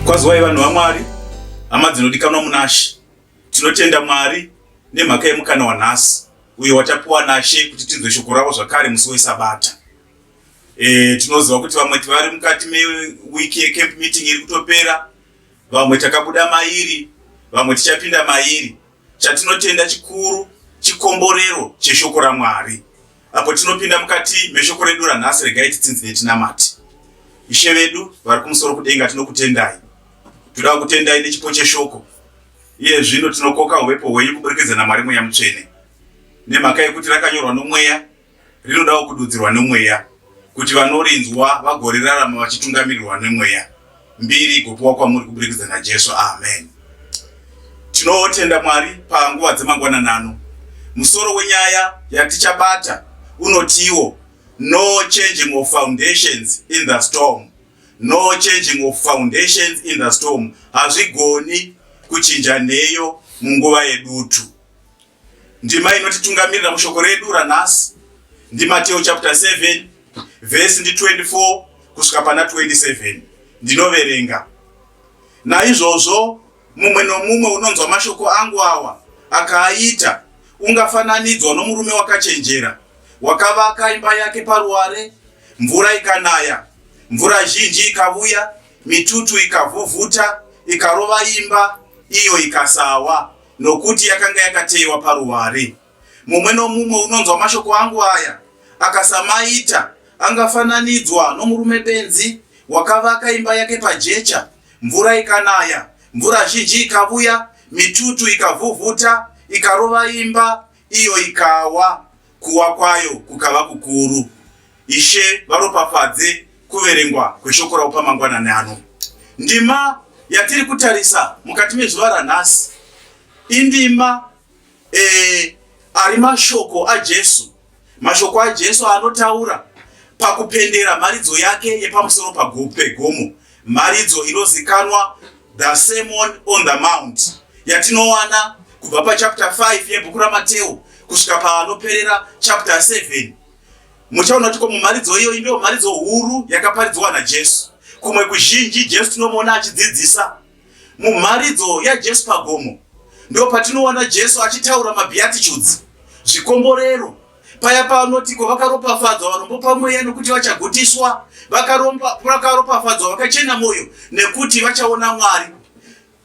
Kwazwai vanhu vaMwari, hama dzinodikanwa munaShe, tinotenda Mwari nemhaka yemukana wanhasi uyo watapiwa naShe kuti tinzwe shoko ravo zvakare musi weSabata. E, tinoziva kuti vamwe vari mukati mewiki yecamp meeting iri kutopera Vamwe takabuda mairi, vamwe tichapinda mairi. Chatinotenda chikuru chikomborero cheshoko raMwari. Apo tinopinda mukati meshoko redu ranhasi, regai titsinzi netinamati. Ishe vedu vari kumusoro kudenga, tinokutendai. Toda kutendai nechipo cheshoko. Iye zvino tinokoka uvepo hwenyu kuburikidza naMwari Mweya Mutsvene. Nemhaka yekuti rakanyorwa nomweya, rinodawo kududzirwa nemweya kuti vanorinzwa vagorerarama vachitungamirirwa nemweya mbiri igopiwa kwamuri kuburikidza najesu amen tinotenda mwari panguva dzemangwananano musoro wenyaya yatichabata unotiwo no changing of foundations in the storm no changing of foundations in the storm hazvigoni kuchinja nheyo munguva yedutu Ndima inotitungamirira mushoko redu ranhasi ndiMateo chapter 7 vhesi ndi 24 kusvika pana 27 ndinoverenga naizvozvo mumwe nomumwe unonzwa mashoko angu awa akaaita ungafananidzwa nomurume wakachenjera wakavaka imba yake paruware mvura ikanaya mvura zhinji ikavuya mitutu ikavhuvhuta ikarova imba iyo ikasawa Nokuti yakanga yakateyiwa paruware. Mumwe nomumwe unonzwa mashoko angu aya akasamaita angafananidzwa nomurume benzi wakavaka imba yake pajecha, mvura ikanaya, mvura zhinji ikavuya, mitutu ikavhuvhuta ikarova imba, Iyo ikawa, kuwa kwayo kukava kukuru. Ishe varopafadze kuverengwa kweshoko ravo pamangwanani ano. Ndima yatiri kutarisa mukati mezuva ranhasi indima eh, ari mashoko aJesu, mashoko aJesu anotaura pakupendera mharidzo yake yepamusoro pegomo Mharidzo inozikanwa The Sermon on the Mount yatinowana kubva pachapter 5 yebhuku raMateo kusvika paanoperera chapter 7 muchaona kuti komumharidzo iyoyi ndiyo mharidzo huru yakaparidzwa naJesu. Kumwe kuzhinji Jesu tinomuona achidzidzisa mumharidzo yaJesu pagomo, ndipo patinowana Jesu achitaura mabeatitudes, zvikomborero paya paanotiko vakaropafadzwa vanombopa mweya nokuti vachagutiswa vakaropafadzwa vakachena mwoyo nekuti vachaona mwari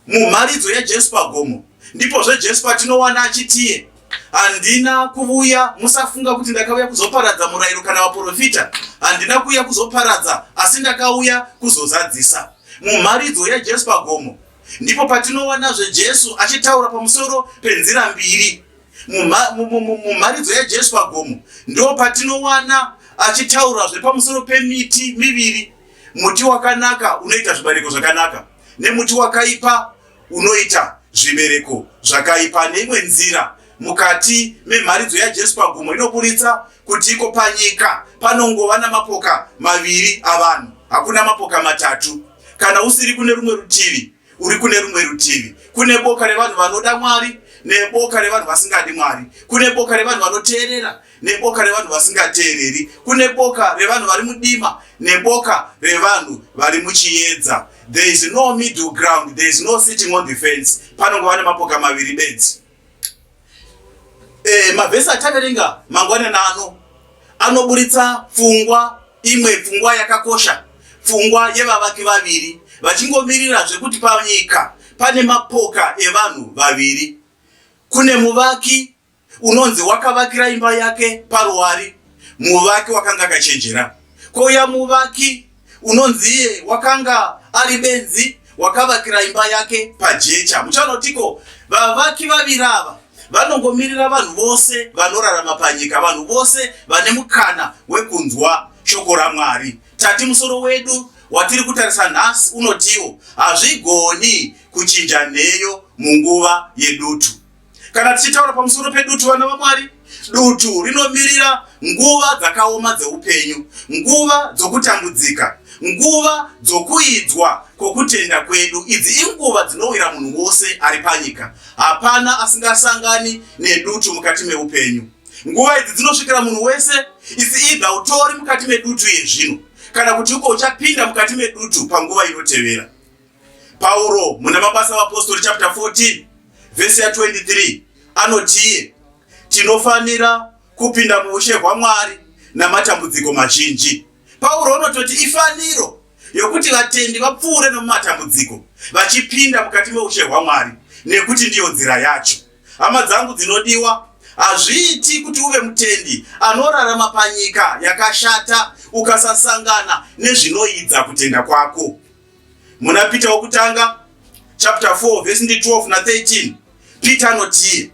mumharidzo yajesu pagomo ndipo zvejesu patinowana achitiye handina kuvuya musafunga kuti ndakauya kuzoparadza murayiro kana vaprofita handina kuuya kuzoparadza asi ndakauya kuzozadzisa mumharidzo yajesu pagomo ndipo patinowanazve jesu achitaura pamusoro penzira mbiri Mumharidzo yaJesu pagomo ndo patinowana achitaurazve pamusoro pemiti miviri, muti wakanaka unoita zvibereko zvakanaka nemuti wakaipa unoita zvibereko zvakaipa. Neimwe nzira mukati memharidzo yaJesu pagomo inoburitsa kuti iko panyika panongova namapoka maviri avanhu, hakuna mapoka matatu. Kana usiri kune rumwe rutivi, uri kune rumwe rutivi kune boka revanhu vanoda mwari neboka revanhu vasingadi mwari kune boka revanhu vanoteerera neboka revanhu vasingateereri kune boka revanhu vari mudima neboka revanhu vari muchiedza there is no middle ground there is no sitting on the fence panongova nemapoka maviri bedzi eh, mavhesi ataverenga mangwanani ano anoburitsa pfungwa imwe pfungwa yakakosha pfungwa yevavaki vaviri vachingomirira zvekuti panyika pane mapoka evanhu vaviri kune muvaki unonzi wakavakira imba yake paruwari muvaki wakanga akachenjera kouya muvaki unonziye wakanga ari benzi wakavakira imba yake pajecha muchanotiko vavaki vaviri ava vanongomirira vanhu vose vanorarama panyika vanhu vose vane mukana wekunzwa shoko ramwari tati musoro wedu watiri kutarisa nhasi unotiwo hazvigoni kuchinja nheyo munguva yedutu Kana tichitaura pamusoro pedutu, vana vaMwari, dutu rinomirira nguva dzakaoma dzeupenyu, nguva dzokutambudzika, nguva dzokuidzwa kwokutenda kwedu. Idzi inguva dzinowira munhu wose ari panyika. Hapana asingasangani nedutu mukati meupenyu. Nguva idzi dzinosvikira munhu wese, isi idha utori mukati medutu yezvino kana kuti uko uchapinda mukati medutu panguva inotevera. Pauro muna Mabasa Vapostori chapter 14 vhesi ya 23 anotiye tinofanira kupinda muushe hwaMwari namatambudziko mazhinji. Pauro anototi ifaniro yokuti vatendi vapfuure nomumatambudziko vachipinda mukati meushe hwaMwari nekuti ndiyo nzira yacho. Hama dzangu dzinodiwa, hazviiti kuti uve mutendi anorarama panyika yakashata ukasasangana nezvinoidza kutenda kwako. muna Peter wokutanga chapter 4 verse 12 na 13 Peter anotii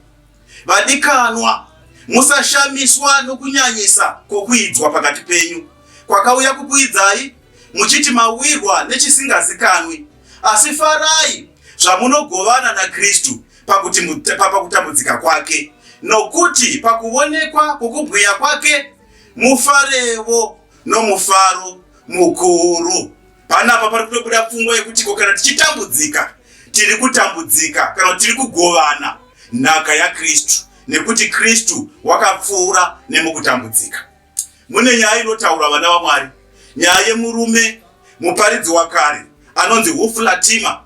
vadikanwa musashamiswa nokunyanyisa kwokuidzwa pakati penyu kwakauya kukuidzai muchiti mawirwa nechisingazikanwi asi farai zvamunogovana naKristu pakuti pakutambudzika kwake nokuti pakuonekwa kwokubwiya kwake mufarevo nomufaro mukuru Panapa pari kutobuda pfungwa yekuti ko kana tichitambudzika tiri kutambudzika kana tiri kugovana nhaka yaKristu nekuti Kristu wakapfuura nemukutambudzika. Mune nyaya inotaura vana vaMwari, nyaya yemurume muparidzi wakare anonzi Wolf Latima.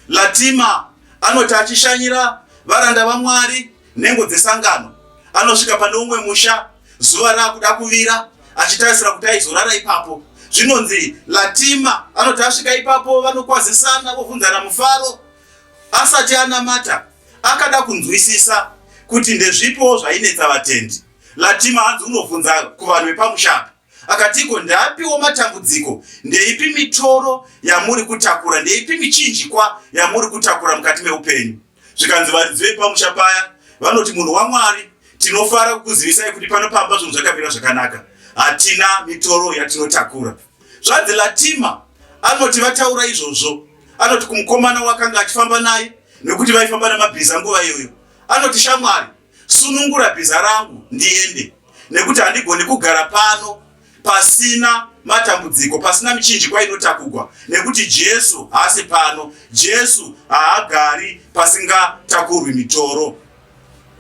Latima anoti achishanyira varanda vaMwari Nhengo dzesangano anosvika pane umwe musha zuva raakuda kuvira achitarisira kuti aizorara ipapo. Zvinonzi Latima anoti asvika ipapo vanokwazisana vovhunzana mufaro. Asati anamata akada kunzwisisa kuti ndezvipiwo zvainetsa vatendi. Latima hanzi unovhunza kuvanhu vepamusha akatiko ndapiwo matambudziko ndeipi mitoro yamuri kutakura ndeipi michinjikwa yamuri kutakura mukati meupenyu zvikanzi varidzi vepamusha paya vanoti munhu wamwari tinofara kukuzivisai kuti pano pamba zvinhu zvakamira zvakanaka hatina mitoro yatinotakura zvanzi latima anoti vataura izvozvo anoti kumukomana wakanga achifamba naye nekuti vaifamba nemabhiza nguva iyoyo anoti shamwari Sunungura bhiza rangu ndiende nekuti handigoni kugara pano pasina matambudziko, pasina michinjikwa inotakugwa nekuti Jesu haasi pano. Jesu haagari pasingatakurwi mitoro.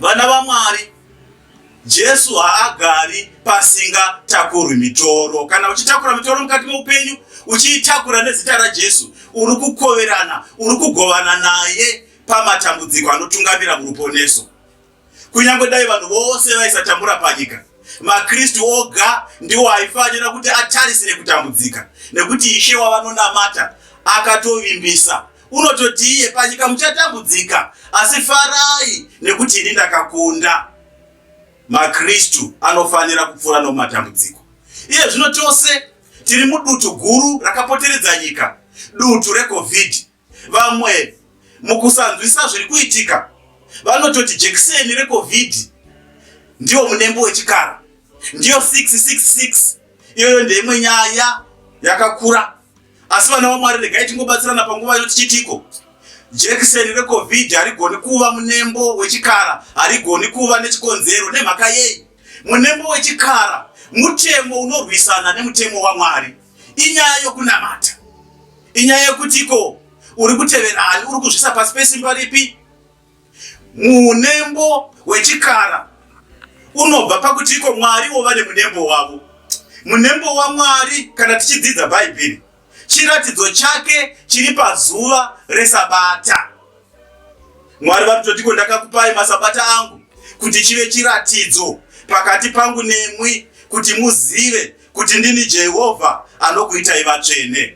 Vana vaMwari, Jesu haagari pasingatakurwi mitoro. Kana uchitakura mitoro mukati meupenyu, uchiitakura nezita raJesu, uri kukoverana, uri kugovana naye. pamatambudziko anotungamira muruponeso. Kunyange dai vanhu vose vaisatambura panyika, maKristu oga ndiwo aifanira kuti atarisire kutambudzika, nekuti Ishe wavanonamata akatovimbisa unototi iye panyika muchatambudzika, asi farai nekuti ini ndakakunda. MaKristu anofanira kupfuura nomatambudziko. Iye zvino tose tiri mudutu guru rakapoteredza nyika, dutu reCovid. Vamwe mukusanzwisa zviri kuitika vanototi jekiseni recovid ndiwo munembo wechikara ndiyo 666 iyoyo ndeimwe nyaya yakakura asi vana vamwari regai tingobatsirana panguva yo tichitiko jekiseni recovid harigoni kuva munembo wechikara harigoni kuva nechikonzero nemhaka yei munembo wechikara mutemo unorwisana nemutemo wamwari inyaya yokunamata inyaya yekuti ko uri kutevera ani uri kuzvisa pasi pesimba ripi munembo wechikara unobva pakuti iko mwari wova nemunembo wavo munembo wamwari kana tichidzidza bhaibheri chiratidzo chake chiri pazuva resabata mwari vanototi ko ndakakupai masabata angu kuti chive chiratidzo pakati pangu nemwi kuti muzive kuti ndini Jehovha anokuitai vatsvene.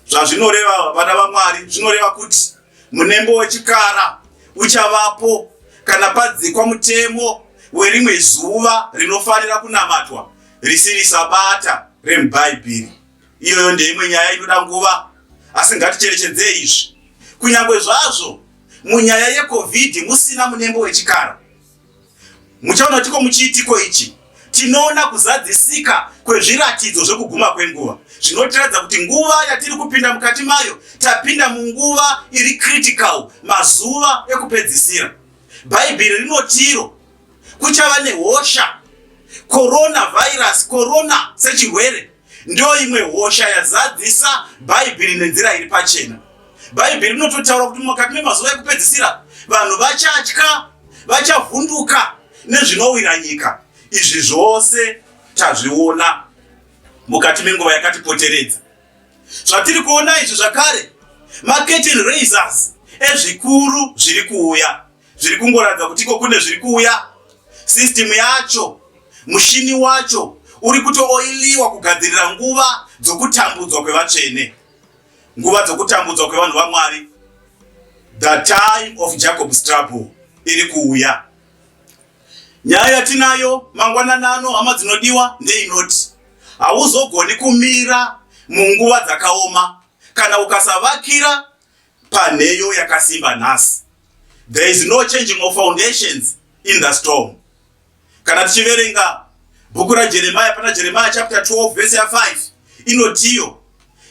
Zvazvinoreva vana vaMwari zvinoreva kuti munembo wechikara uchavapo kana padzikwa mutemo werimwe zuva rinofanira kunamatwa risiri sabata remubhaibheri. Iyoyo ndeimwe nyaya inoda nguva, asi ngaticherechedzei izvi. Kunyange zvazvo munyaya yeCovid musina munembo wechikara, Muchaona tiko muchiitiko ichi tinoona kuzadzisika kwezviratidzo zvekuguma kwenguva zvinotiratidza kuti nguva yatiri kupinda mukati mayo tapinda munguva iri critical mazuva ekupedzisira bhaibheri rinotiro kuchava nehosha coronavirus corona sechirwere Ndiyo imwe hosha yazadzisa Bhaibheri nenzira iri pachena. Bhaibheri rinototaura kuti mukati memazuva ekupedzisira vanhu vachatya, vachavhunduka nezvinowira nyika. Izvi zvose tazviona mukati menguva yakatipoteredza. Zvatiri kuona izvi zvakare maketini raisers ezvikuru zviri kuuya. zviri kungoratidza kuti iko kune zviri kuuya system yacho mushini wacho uri kutooiliwa kugadzirira nguva dzokutambudzwa kwevatsvene nguva dzokutambudzwa kwevanhu vamwari the time of jacob struggle iri kuuya nyaya yatinayo mangwananano hama dzinodiwa ndeinoti hauzogoni kumira munguva dzakaoma kana ukasavakira panheyo yakasimba nhasi there is no changing of foundations in the storm kana tichiverenga bhuku rajeremaya pana jeremaya chapter 12 vese ya 5 inotiyo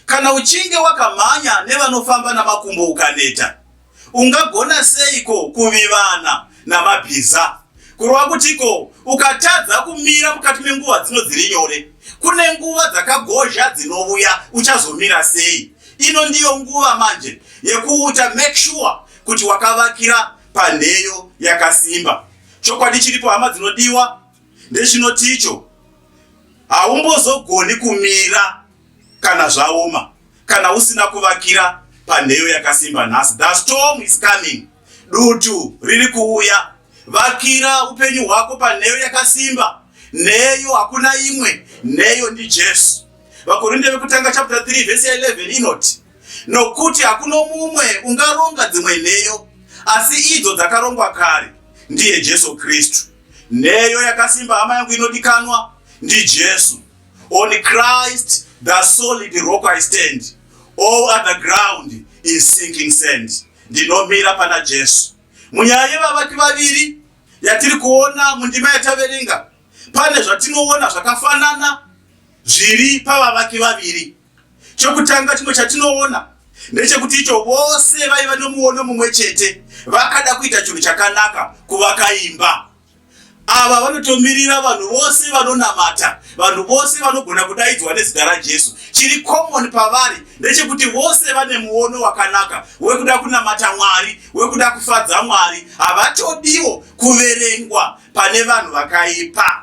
kana uchinge wakamhanya nevanofamba namakumbo ukaneta ungagona seiko kuvivana namabhiza. Kureva kutiko? Ukatadza kumira mukati menguva dzino dziri nyore, kune nguva dzakagozha dzinovuya, uchazomira sei? Ino ndiyo nguva manje yekuuta make sure kuti wakavakira panheyo yakasimba. Chokwadi chiripo hama dzinodiwa ndechinoticho haumbozogoni kumira. Kana zvaoma, kana usina kuvakira panheyo yakasimba nhasi, the storm is coming. Dutu riri kuuya. Vakira upenyu hwako panheyo yakasimba. Nheyo hakuna imwe, nheyo ndi Jesu. Vakorinde vekutanga chapter 3 verse 11 inoti, nokuti hakuna mumwe ungaronga dzimwe nheyo asi idzo dzakarongwa kare ndiye Jesu Kristu. Nheyo yakasimba hama yangu inodikanwa ndi Jesu. On Christ, the solid rock I stand, all other ground is sinking sand. Ndinomira pana Jesu. Munyaya yevavaki vaviri yatiri kuona mundima yataverenga, pane zvatinoona zvakafanana zviri pavavaki vaviri. Chokutanga chimwe chatinoona ndechekuti icho vose vaiva nomuono mumwe chete vakada kuita chinhu chakanaka kuvaka imba. Ava vanotomirira vanhu vose vanonamata, vanhu vose vanogona kudaidzwa nezita raJesu. Chiri common pavari ndechekuti vose vane muono wakanaka wekuda kunamata Mwari, wekuda kufadza Mwari. Havatodiwo kuverengwa pane vanhu vakaipa.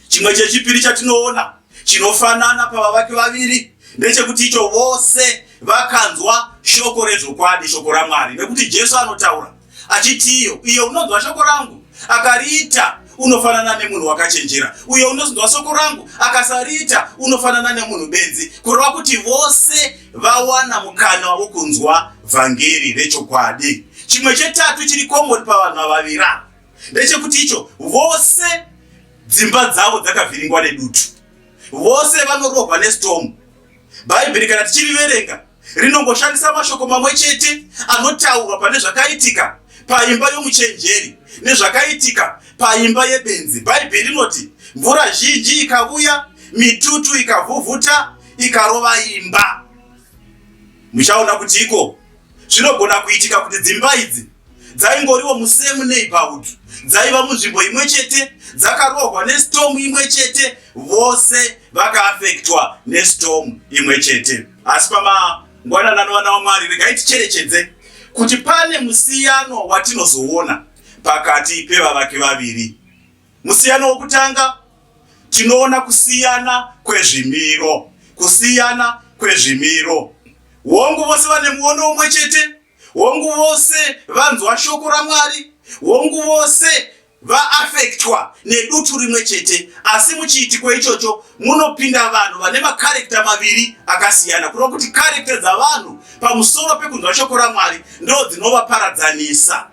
Chimwe chechipiri chatinoona chinofanana pavavaki vaviri ndechekuti icho vose vakanzwa shoko rezvokwadi, shoko raMwari, nekuti Jesu anotaura achiti, iyo iyo unonzwa shoko rangu akariita unofanana nemunhu wakachenjera, uyo unonzwa shoko rangu akasariita unofanana nemunhu benzi, kureva kuti vose vawana mukana wokunzwa vhangeri rechokwadi. Chimwe chetatu chiri komoni pavanhu vavavira ndechekuti icho vose dzimba dzavo dzakavhiringwa nedutu vose vanorohwa nestorm bhaibheri kana tichiriverenga rinongoshandisa mashoko mamwe chete anotaurwa pane zvakaitika paimba yomuchenjeri nezvakaitika paimba yebenzi bhaibheri rinoti mvura zhinji ikavuya mitutu ikavhuvhuta ikarova imba muchaona kuti iko Zvinogona kuitika kuti dzimba idzi dzaingoriwo musame neighborhood dzaiva munzvimbo imwe chete dzakarohwa nestorm imwe chete vose vakaafektwa nestorm imwe chete asi pamangwanana anovana wamwari regai ticherechedze kuti pane musiyano watinozoona pakati pevavaki vaviri Musiyano wokutanga, tinoona kusiyana kwezvimiro, kusiyana kwezvimiro. Hongu, vose vane muono umwe chete. Hongu, vose vanzwa shoko raMwari. Hongu, vose vaafektwa nedutu rimwe chete, asi muchiitiko ichocho munopinda vanhu vane makarekta maviri akasiyana, kureva kuti karekta dzavanhu pamusoro pekunzwa shoko raMwari ndo dzinovaparadzanisa.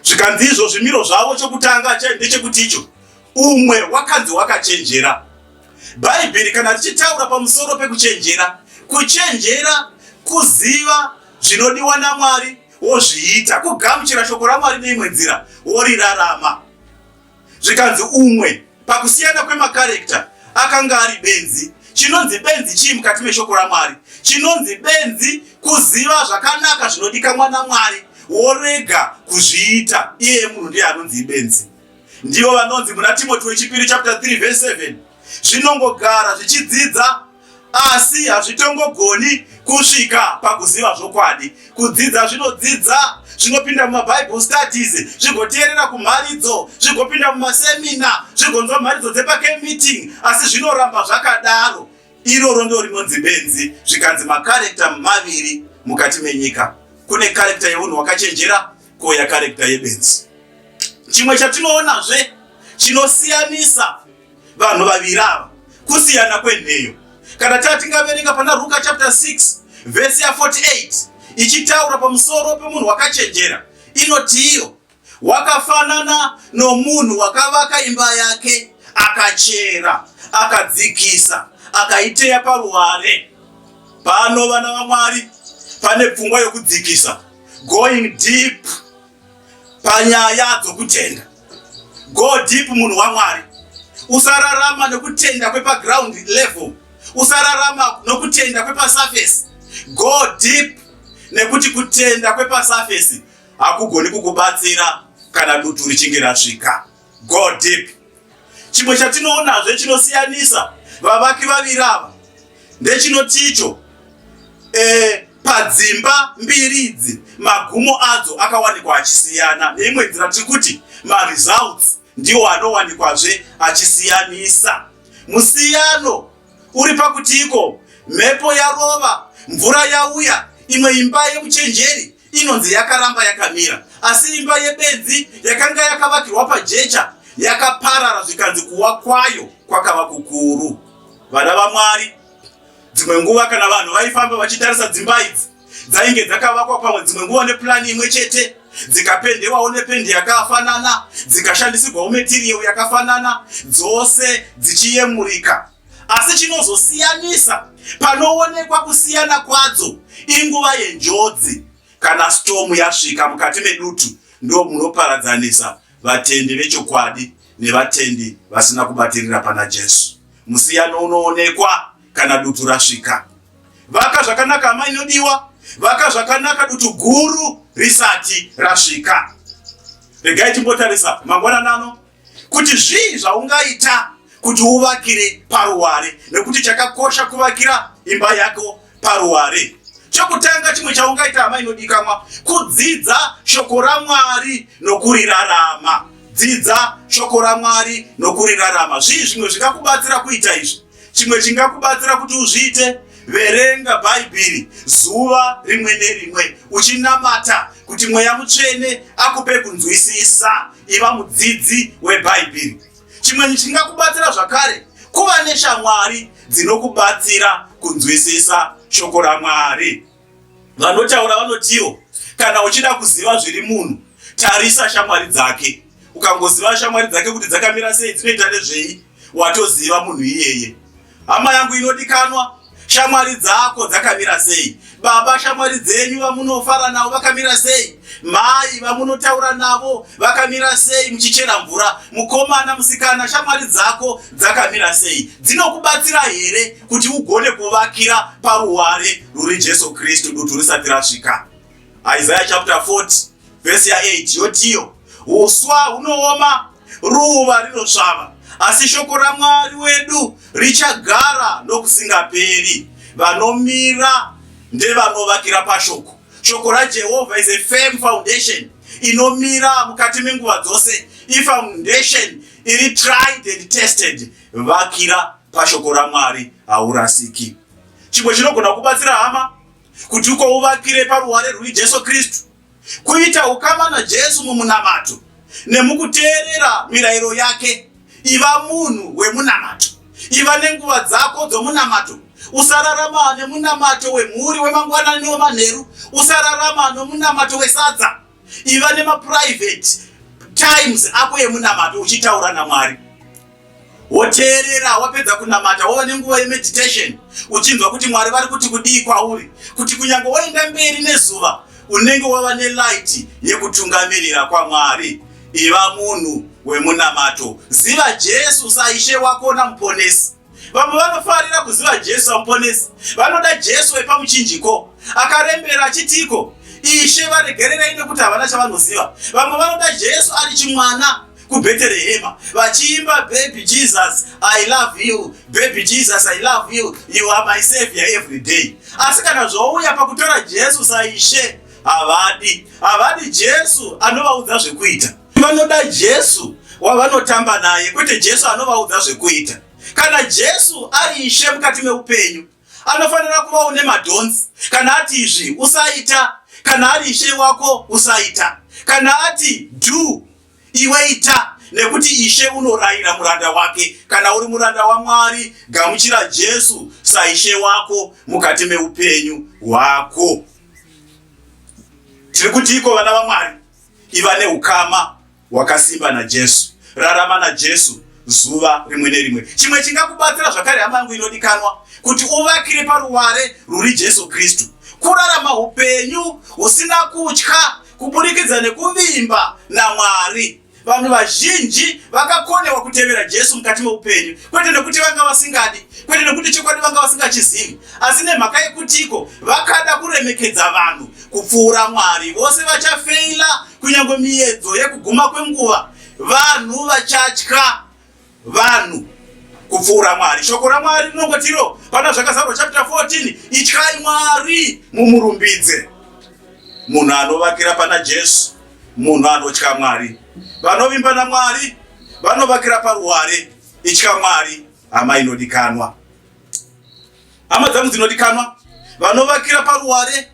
zvikanzi izvo zvimiro zvavo chokutanga ndechekuti icho umwe wakanzi wakachenjera bhaibheri kana richitaura pamusoro pekuchenjera kuchenjera kuziva zvinodiwa namwari wozviita kugamuchira shoko ramwari neimwe nzira worirarama zvikanzi umwe pakusiyana kwemakarekta akanga ari benzi. Chinonzi benzi chii mukati meshoko raMwari? Chinonzi benzi kuziva zvakanaka zvinodikamwa naMwari worega kuzviita. Iye munhu ndiye anonzi ibenzi. Ndivo vanonzi muna Timoti wechipiri chapter 3 verse 7 zvinongogara zvichidzidza Asi hazvitongogoni kusvika pakuziva zvokwadi. Kudzidza zvinodzidza, zvinopinda mumaBible studies, zvigoteerera kumharidzo, zvigopinda mumasemina, zvigonzwa mharidzo dzepake meeting, asi zvinoramba zvakadaro. Iroro ndo rinonzi benzi, zvikanzi makarekta maviri mukati menyika. Kune karekta yeunhu wakachenjera, kouya karekta yebenzi. Chimwe chatinoonazve chinosiyanisa vanhu vaviri ava kusiyana kwenheyo kana taa tingaverenga pana ruka chapter 6 vhesi ya 48 ichitaura pamusoro pemunhu wakachenjera inotiiyo wakafanana nomunhu wakavaka imba yake akachera akadzikisa akaiteya paruware pano vana vamwari pane pfungwa yokudzikisa going deep panyaya dzokutenda. Go deep munhu waMwari. Usararama nokutenda kwepaground level. Usararama nokutenda kwepasurface. Go deep nekuti kutenda kwepasurface hakugoni kukubatsira kana dutu richinge rasvika. Go deep. Chimwe chatinoonazve chinosiyanisa vavaki vaviri ava ndechinoti icho eh, padzimba mbiri idzi magumo adzo akawanikwa achisiyana neimwe nzira tiri kuti maresults ndiwo anowanikwazve achisiyanisa musiyano uri pakuti iko mhepo yarova mvura yauya imwe imba yemuchenjeri inonzi yakaramba yakamira asi imba yebenzi yakanga yakavakirwa pajecha yakaparara zvikanzi kuwa kwayo kwakava kukuru vana vamwari dzimwe nguva kana vanhu vaifamba vachitarisa dzimba idzi dzainge dzakavakwa pamwe dzimwe nguva nepulani imwe chete dzikapendewawo nependi yakafanana dzikashandisirwawo metiriyo yakafanana dzose dzichiyemurika Asi chinozosiyanisa panoonekwa kusiyana kwadzo inguva yenjodzi. Kana storm yasvika mukati medutu ndo munoparadzanisa vatendi vechokwadi nevatendi vasina kubatirira pana Jesu. Musiyano unoonekwa kana dutu rasvika. Vaka zvakanaka hama inodiwa, vaka zvakanaka dutu guru risati rasvika. Regai timbotarisa mangwanani ano kuti zvii zvaungaita kuti uvakire paruware, nekuti chakakosha kuvakira imba yako paruware. Chokutanga chimwe chaungaita hama inodikamwa, kudzidza shoko raMwari nokurirarama. Dzidza shoko raMwari nokurirarama. Zvii zvimwe zvingakubatsira kuita izvi? Chimwe chingakubatsira kuti uzviite, verenga Bhaibheri zuva rimwe nerimwe uchinamata kuti mweya mutsvene akupe kunzwisisa. Iva mudzidzi weBhaibheri. Chimwe chingakubatsira zvakare, kuva neshamwari dzinokubatsira kunzwisisa shoko raMwari. Vanotaura vanotiwo kana uchida kuziva zviri munhu tarisa shamwari dzake. Ukangoziva shamwari dzake kuti dzakamira sei, dzinoita nezvei, watoziva munhu iyeye. Hama yangu inodikanwa, shamwari dzako dzakamira sei? Baba, shamwari dzenyu vamunofara navo vakamira sei? Mai vamunotaura navo vakamira sei muchichera mvura? Mukomana, musikana, shamwari dzako dzakamira sei? Dzinokubatsira here kuti ugone kuvakira paruware ruri Jesu Kristu dutu risati rasvika. Isaiah chapter 40 verse ya 8 yotiyo, uswa hunooma, ruva rinosvava, asi shoko raMwari wedu richagara nokusingaperi. Vanomira ndevanovakira pashoko. Shoko raJehovha is a firm foundation inomira mukati menguva dzose, ifoundation iri tried and tested. Vakira pashoko raMwari haurasiki. Chimwe chinogona kubatsira hama kuti uko uvakire paruware rwuri Jesu Kristu, kuita ukama naJesu mumunamato nemukuteerera mirayiro yake. Iva munhu wemunamato, iva nenguva dzako dzomunamato. Usararama nemunamato wemhuri wemangwanani newemanheru, usararama nomunamato wesadza. iva nemaprivate times ako emunamato uchitaura namwari woteerera wapedza kunamata wova nenguva yemeditation uchinzwa kuti mwari vari kuti kudii kwauri kuti kunyange waenda mberi nezuva unenge wava nelight yekutungamirira kwamwari iva munhu wemunamato ziva jesu saishe wako namuponesi Vamwe vanofarira kuziva Jesu samuponesi. Vanoda Jesu wepamuchinjiko akarembera achitiko, Ishe varegererei nekuti havana chavanoziva. Vamwe vanoda Jesu ari chimwana kubheterehema vachiimba baby jesus i love you baby jesus i love you you are my savior every day asi kana zvouya pakutora jesu saishe havadi havadi jesu anovaudza zvekuita Vanoda Jesu wavanotamba naye kwete Jesu anovaudza zvekuita. Kana Jesu ari ishe mukati meupenyu anofanira kuva une madhonzi. Kana ati izvi usaita, kana ari ishe wako usaita. Kana ati do iwe ita nekuti ishe unorayira muranda wake. Kana uri muranda waMwari, gamuchira Jesu saishe wako mukati meupenyu hwako. Tiri kutiiko vana vaMwari? Iva neukama hwakasimba naJesu. Rarama naJesu zuva rimwe nerimwe. Chimwe chingakubatsira zvakare, hama yangu inodikanwa, kuti uvakire paruware ruri Jesu Kristu, kurarama upenyu husina kutya kuburikidza nekuvimba naMwari. Vanhu vazhinji vakakonewa kutevera Jesu mukati meupenyu, kwete nekuti vanga vasingadi, kwete nekuti chokwadi vanga vasingachizivi, asi nemhaka yekutiko vakada kuremekedza vanhu. kupfuura Mwari. Vose vachafeila kunyange miyedzo yekuguma kwenguva. Vanhu vachatya vanhu kupfuura Mwari. Shoko raMwari rinongotiro pana Zvakazarwa chapter 14, ityai Mwari mumurumbidze. Munhu anovakira pana Jesu, munhu anotya Mwari. Vanovimba naMwari vanovakira paruware, itya Mwari hama inodikanwa. Hama dzangu dzinodikanwa, vanovakira paruware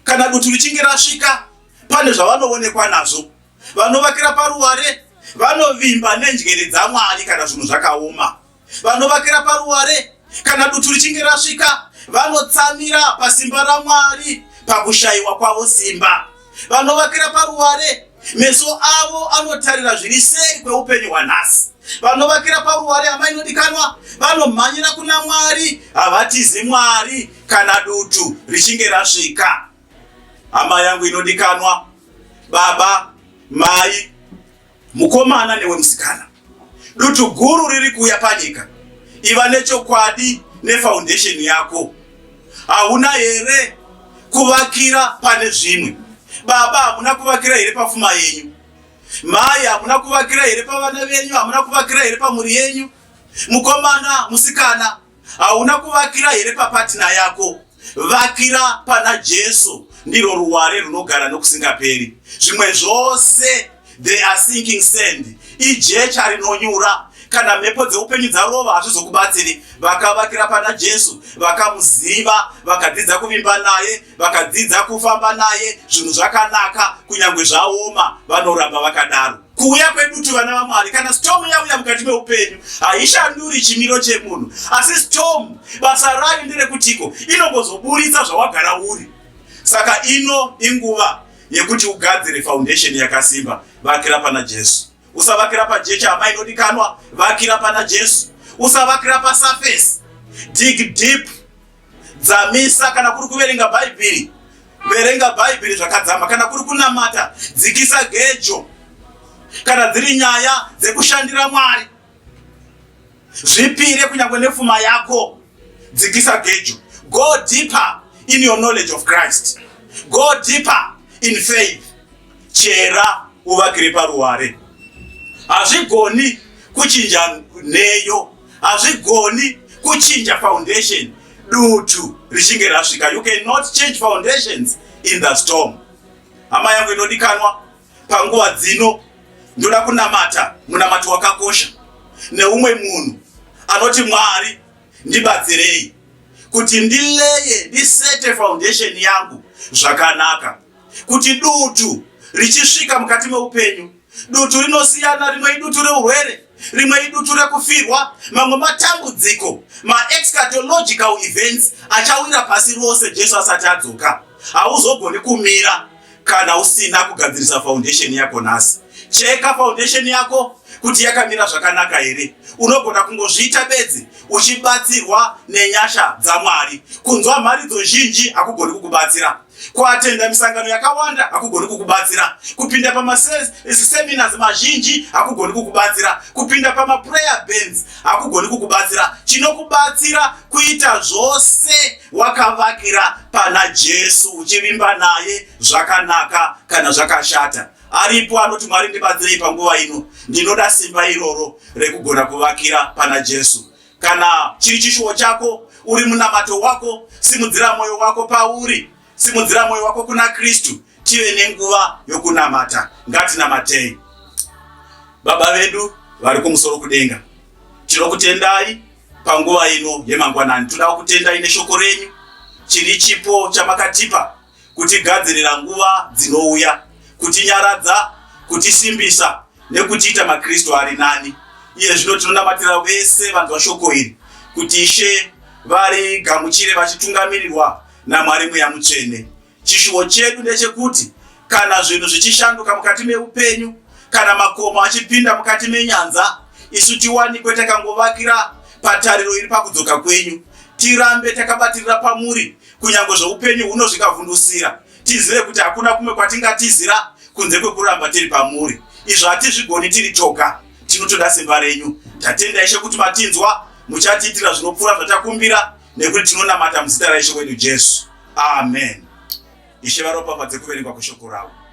kana dutu richinge rasvika, pane zvavanoonekwa nazvo. Vanovakira paruware vanovimba nenjere dzaMwari kana zvinhu zvakaoma. Vanovakira paruware kana dutu richinge rasvika, vanotsamira pasimba raMwari pakushayiwa kwavo simba. vanovakira paruware meso avo anotarira zviri seri kweupenyu hwanhasi vanovakira paruware amai inodikanwa vanomhanyira kuna mwari havatizi mwari kana dutu richinge rasvika hama yangu inodikanwa baba mai Mukomana newe musikana, dutu guru riri kuuya panyika. Iva nechokwadi nefoundation yako. Hauna here kuvakira pane zvimwe? Baba, hamuna kuvakira here pafuma yenyu? Mai, hamuna kuvakira here pavana venyu? Hamuna kuvakira here pamhuri yenyu? Mukomana, musikana, Hauna kuvakira here papatina yako? Vakira pana Jesu, ndiro ruware runogara nokusingaperi. Zvimwe zvose they are sinking sand, ijecha rinonyura. Kana mhepo dzeupenyu dzarova hazvizokubatsiri. Vakavakira pana Jesu, vakamuziva, vakadzidza kuvimba naye, vakadzidza kufamba naye, zvinhu zvakanaka, kunyange zvaoma, vanoramba vakadaro. Kuuya kwedutu vana vaMwari, kana storm yauya mukati meupenyu, haishanduri chimiro chemunhu, asi storm basa rayo nderekutiko, inongozoburitsa zvawagara uri. Saka ino inguva yekuti ugadzire foundation yakasimba, vakira pana Jesu. Usavakira pajecha hama inodikanwa, vakira pana Jesu. Usavakira pasurface, dig deep. dzamisa kana kuri kuverenga bhaibheri verenga bhaibheri zvakadzama kana kuri kunamata dzikisa gejo kana dziri nyaya dzekushandira mwari zvipire kunyangwe nefuma yako dzikisa gejo go deeper in your knowledge of christ go deeper in faith chera uvakire paruware hazvigoni kuchinja neyo hazvigoni kuchinja foundation dutu richinge rasvika you cannot change foundations in the storm hama yangu inodikanwa panguva dzino ndoda kunamata munamato wakakosha neumwe munhu anoti mwari ndibatsirei kuti ndileye ndisete foundation yangu zvakanaka kuti dutu richisvika mukati meupenyu Dutu rinosiyana, rimwe idutu reurwere, rimwe idutu rekufirwa, mamwe matambudziko, maexcatological events achawira pasi rose Jesu asati adzoka. Hauzogoni kumira kana usina kugadzirisa foundation yako nhasi. Cheka foundation yako kuti yakamira zvakanaka here. Unogona kungozviita bedzi uchibatsirwa nenyasha dzaMwari. Kunzwa mharidzo zhinji hakugoni kukubatsira. Kuatenda misangano yakawanda hakugoni kukubatsira. Kupinda pamaseminars mazhinji hakugoni kukubatsira. Kupinda pamaprayer bands hakugoni kukubatsira. Chinokubatsira kuita zvose wakavakira pana Jesu, uchivimba naye zvakanaka kana zvakashata. Aripo anoti, Mwari ndibatsirei panguva ino, ndinoda simba iroro rekugona kuvakira pana Jesu. Kana chiri chishuwo chako, uri munamato wako, simudzira mwoyo wako pauri, simudzira mwoyo wako kuna Kristu, tive nenguva yokunamata. Ngatinamatei. Baba vedu vari kumusoro kudenga, tinokutendai panguva ino yemangwanani. Toda kutendai neshoko renyu, chiri chipo chamakatipa kutigadzirira nguva dzinouya, kutinyaradza, kutisimbisa nekutiita maKristu ari nani. Iye zvino tinonamatira vese vanzwa shoko iri kuti Ishe varigamuchire vachitungamirirwa naMwari Mweya Mutsvene. Chishuwo chedu ndechekuti kana zvinhu zvichishanduka mukati meupenyu, kana makomo achipinda mukati menyanza, isu tiwanikwe takangovakira patariro iri pakudzoka kwenyu, tirambe takabatirira pamuri kunyangwe zvoupenyu huno zvikavhundusira, tizive kuti hakuna kumwe kwatingatizira kunze kwekuramba tiri pamuri. Izvo hatizvigoni tiri toga, tinotoda simba renyu. Tatenda Ishe kuti matinzwa, muchatiitira zvinopfuura zvatakumbira, nekuti tinonamata muzita raIshe wedu Jesu. Amen. Ishe varopafadze kuverengwa kweshoko ravo.